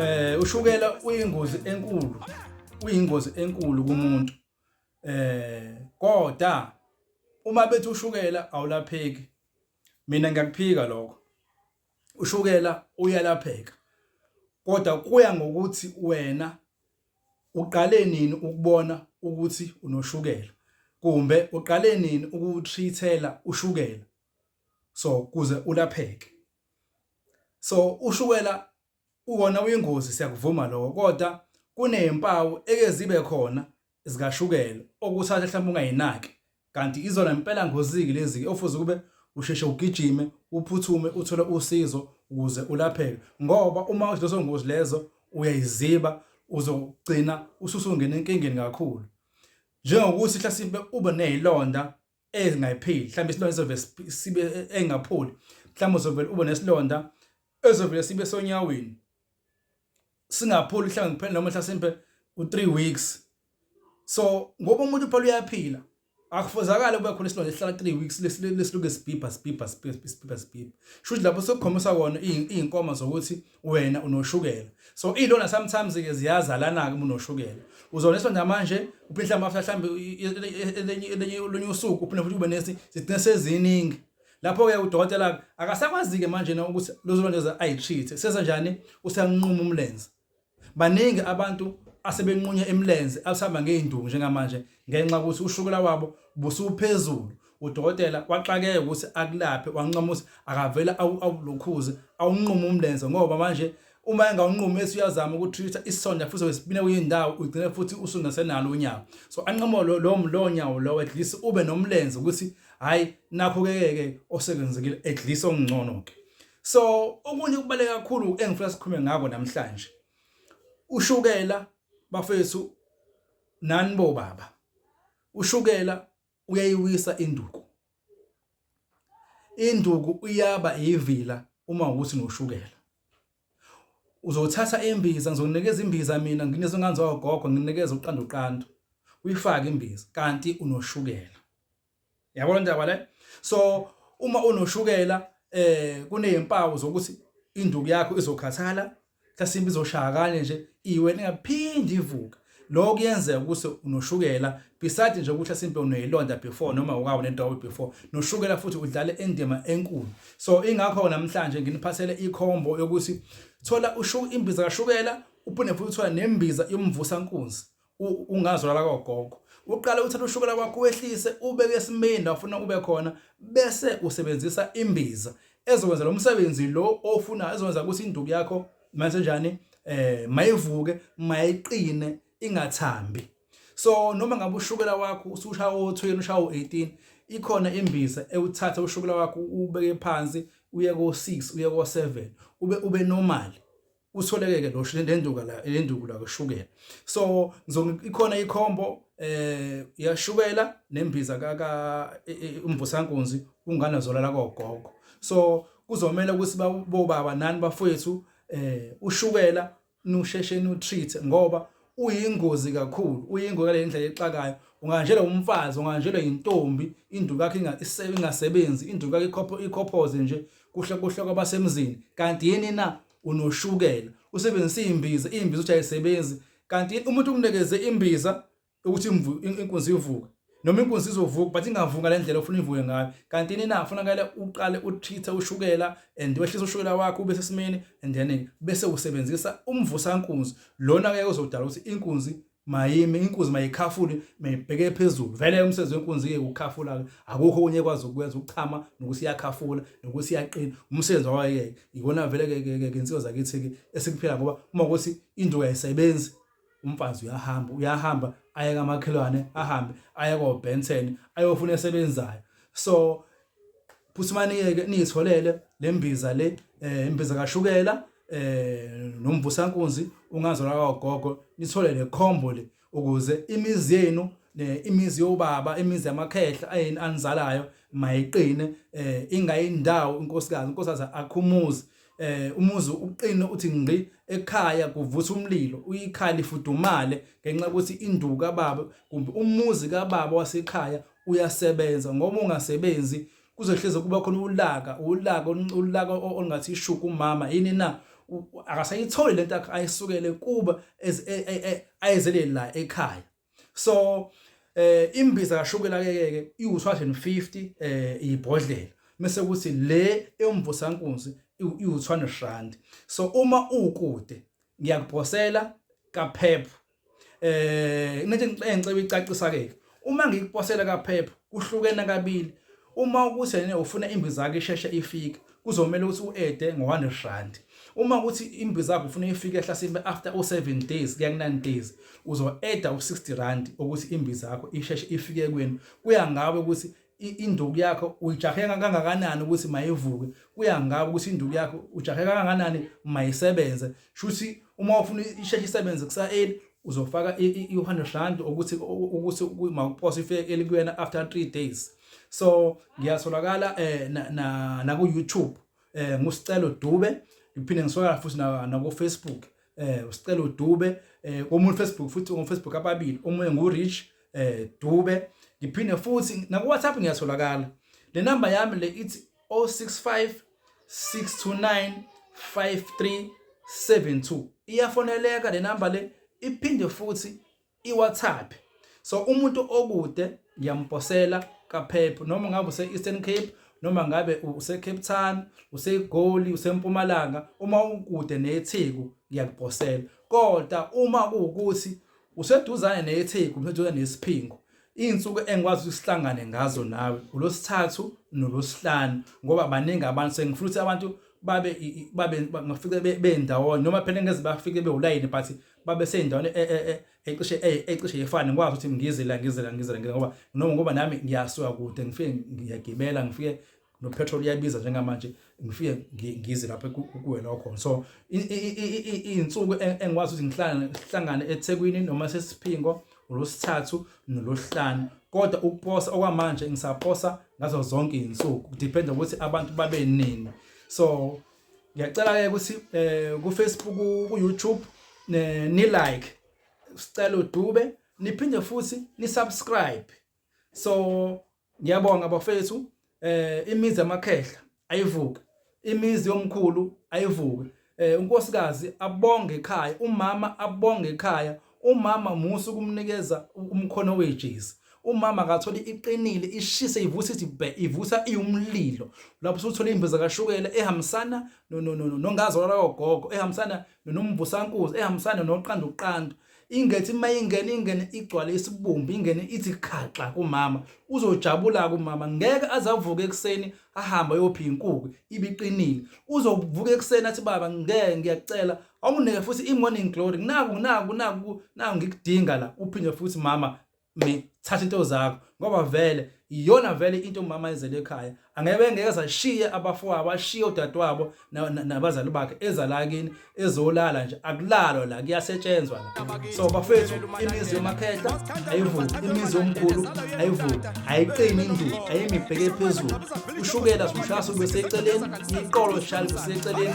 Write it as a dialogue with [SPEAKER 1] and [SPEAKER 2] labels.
[SPEAKER 1] eh ushukela uyingozi enkulu uyingozi enkulu kumuntu eh kodwa uma bethi ushukela awulapheki mina ngiyakuphika lokho ushukela uyalapheka kodwa kuya ngokuthi wena uqale nini ukubona ukuthi unoshukela kumbe uqale nini ukutreatela ushukela so kuze ulapheke so ushukela uwona uyingozi siyakuvuma lokho kodwa kunezimpawu eke zibe khona zikashukela okuthatha mhlawumbe ungayinaki kanti izona impela ngoziki lezi ofuze kube usheshe ugijime uphuthume uthole usizo ukuze ulapheke ngoba uma uzilezo ngozi lezo uyayiziba uzogcina ususungena enkingeni kakhulu njengokuthi hlasimpe ube nezilonda engayipheli mhlawumbe isilonda sizovele sibe engapholi mhlawumbe uzovele ube nesilonda ezovele sibe sonyaweni singapholi mhlawumbe kuphela noma mhlasimbe u3 weeks so ngoba umuntu phela uyaphila akufuzakala kube khona isilonda esihlala 3 weeks lesiluke sibhibha sibhibha sibhibha sibhibha sibhibha shuthi lapho sokukhombisa kona izinkoma zokuthi wena unoshukela so ilona sometimes ke ziyazalana ke unoshukela uzoneswa namanje uphihla amafla mhlambe elenye elenye olunye usuku uphinde futhi ube nesi sithina seziningi lapho ke udokotela akasakwazi ke manje na ukuthi lozolondeza ayitreat seza njani usanquma umlenze baningi abantu asebenqunya emlenze asihamba ngezinduku njengamanje ngenxa ukuthi ushukela wabo busuphezulu udokotela waxakeka ukuthi akulaphe wancomusa akavele awulokhuze awunqume umlenze ngoba manje uma engawunqumi bese uyazama ukutreat isonja futhi wesibine kuyindawo ugcine futhi usungasenalo unyawo so anqomo lo lo nyawo lo at least ube nomlenze ukuthi hayi nakho ke ke osekwenzekile at least ongcono ke so okunye kubaleke kakhulu engifuna sikhulume ngako namhlanje ushukela bafethu nani bo baba ushukela uyayiwisa induku induku uyaba yivila uma ukuthi noshukela uzothatha imbiza ngizonikeza imbiza mina nginikeza nganzi wagogo nginikeza uqanda uqanda uyifake imbiza kanti unoshukela yabo le ndaba le so uma unoshukela eh kunezimpawu zokuthi induku yakho izokhathala mhlasimbe izoshaya kanye nje iwena ingaphindi ivuka lokho kuyenzeka ukuthi unoshukela beside nje ukuthi asimpe uneyilonda before noma ukawu nentobo before noshukela futhi udlale indima enkulu so ingakho namhlanje nginiphathele ikhombo yokuthi thola ushuka imbiza kashukela uphinde futhi uthola nembiza yomvusa nkunzi ungazwala kogogo uqale uthatha ushukela kwakho wehlise ubeke esimeni la ufuna ube khona bese usebenzisa imbiza ezokwenza lo msebenzi lo ofuna ezokwenza ukuthi induku yakho mase njani eh mayivuke mayiqine ingathambi so noma ngabe ushukela wakho ususha o12 usha o18 ikhona imbiza ewuthatha ushukela wakho ubeke phansi uye ko6 uye ko7 ube ube normal kutholeke ke lo lenduka la lenduku la kushukela so ikhona ikhombo eh yashukela nembiza ka ka e, e, umvusankunzi ungana zolala kogogo so kuzomela ukuthi bobaba nani bafowethu eh ushukela nusheshe nu treat ngoba uyingozi kakhulu uyingozi ngale ndlela exakayo unganjelwa umfazi unganjelwa intombi induku yakhe ingasebenzi induku yakhe ikhopho ikhophoze nje kuhle kuhle kwabasemzini kanti yini na unoshukela usebenzisa imbiza imbiza uthi ayisebenzi kanti umuntu umnikeze imbiza ukuthi inkunzi ivuke noma inkunzi izovuka but ingavuki ngale ndlela ofuna ivuke ngayo kanti nina kufunakele uqale uthithe ushukela and wehlisa ushukela wakho ube sesimeni and then bese usebenzisa umvusa nkunzi lona ke uzodala ukuthi inkunzi mayimi inkunzi mayikhafule mayibheke phezulu vele umsebenzi wenkunzi ke ukhafula akukho kunye kwazi ukwenza ukuchama nokuthi iyakhafula nokuthi iyaqina umsebenzi wayo ke ikona vele ke ke insizwa zakithi ke esikuphila ngoba uma ukuthi induku ayisebenzi umfazi uyahamba uyahamba aye kamakhelwane ahambe aye koBenson ayofuna esebenzayo so phusimaniyeke niyitholele lembiza le eh, imbiza kashukela eh nomvusankunzi ungazola kagogo nithole le combo le ukuze imizi yenu imizi yobaba imizi yamakhehla ayini anizalayo mayiqine eh ingayindawo inkosikazi inkosikazi akhumuzi eh umuzi uqine uthi ngqi ekhaya kuvutha umlilo uyikhaya lifudumale ngenxa ukuthi induku kababa kumbe umuzi kababa wasekhaya uyasebenza ngoba ungasebenzi kuzohleze kuba khona ulaka ulaka ulaka ongathi ishuku umama yini na akasayitholi lento ayisukele kuba e, e, e, ayezelele la ekhaya so eh imbiza kashukela keke iwu250 eh ibhodlela mase kuthi le emvusa nkunzi iwu200 rand so uma ukude ngiyakuphosela kaphepho eh ngithi ngicela icacisa ke uma ngikuphosela kaphepho kuhlukene kabili uma ukuthi yena ufuna imbiza yakhe isheshe ifike kuzomele ukuthi u-ede ngo-100 rand uma ukuthi imbi zakho ufuna ifike ehlasimbe after u-7 days kuya ku-9 days uzo-eda u-60 rand ukuthi imbi zakho isheshe ifike kwenu kuya ngawe ukuthi induku yakho uyijahe kangakanani ukuthi mayivuke kuya ngawe ukuthi induku yakho ujahe kangakanani mayisebenze shuthi uma ufuna isheshe isebenze kusa-8 uzofaka i-100 rand ukuthi ukuthi mawuphose ifike elikuyena after 3 days so ngiyatholakala eh na, na, na ku YouTube eh ngusicelo Dube ngiphinde ngiswakala futhi na, na ku Facebook eh usicelo Dube eh komuntu Facebook futhi on Facebook ababili omunye ngu Rich eh Dube ngiphinde futhi na ku WhatsApp ngiyatholakala le number yami le ithi 065 629 5372 iyafoneleka le number le iphinde futhi iWhatsApp so umuntu okude ngiyamposela kapheph noma ngabe use-eastern cape noma ngabe usecape town usegoli usempumalanga uma ukude netheku ngiyakuposela kodwa uma kuwukuthi useduzane netheku useduzane nesiphingo iy'nsuku engikwazi ukuthi sihlangane ngazo nawe ulosithathu nolosihlanu ngoba baningi abantu sengifuna ukuthi abantu babe babe ngafike bendawonye noma phela ngeze bafike bewulayini but babe seyindaweni e, e, e, ecishe ecishe yefana ngikwazi ukuthi ngizela ngizela ngizela ngoba noma ngoba nami ngiyasuka kude ngifike ngiyagibela ngifike no petrol iyabiza njengamanje ngifike ngize lapha kuwena okhona so izinsuku engikwazi ukuthi ngihlangane ngihlangane eThekwini noma sesiphingo uLosithathu noLosihlanu kodwa ukuposa okwamanje ngisaposa ngazo zonke izinsuku depend ukuthi abantu babe nini so ngiyacela ke ukuthi eh ku Facebook ku YouTube ni like sicela udube niphinde futhi ni subscribe so ngiyabonga bafethu eh imizi amakhehla ayivuke imizi yomkhulu ayivuke eh unkosikazi abonge ekhaya umama abonge ekhaya umama musa ukumnikeza umkhono wejezi umama akathola iqinile ishise ivusa ithi ivusa iwumlilo lapho usuthola imbiza kashukela ehambisana no no no nongazi wala ogogo ehambisana nomvusankuzi ehambisana noqanda uqanda ingethi uma ingene ingene igcwale isibumbi ingene ithi khaxa kumama uzojabula kumama ngeke azavuke ekuseni ahambe ayophi inkuku ibiqinile uzovuka ekuseni athi baba ngeke ngiyacela Awunginike futhi i-morning glory. Naku naku naku naku ngikudinga la. Uphinde futhi mama me thatha into zakho ngoba vele iyona vele into umama ezele ekhaya angeke ngeke zashiye abafo abashiye udadewabo nabazali bakhe eza la kini ezolala nje akulalwa la kuyasetshenzwa la so bafethu imizi yomakhehla ayivuki imizi yomkhulu ayivuki ayiqini induku ayimibheke phezulu ushukela simushasa ubeseceleni iqolo shali useceleni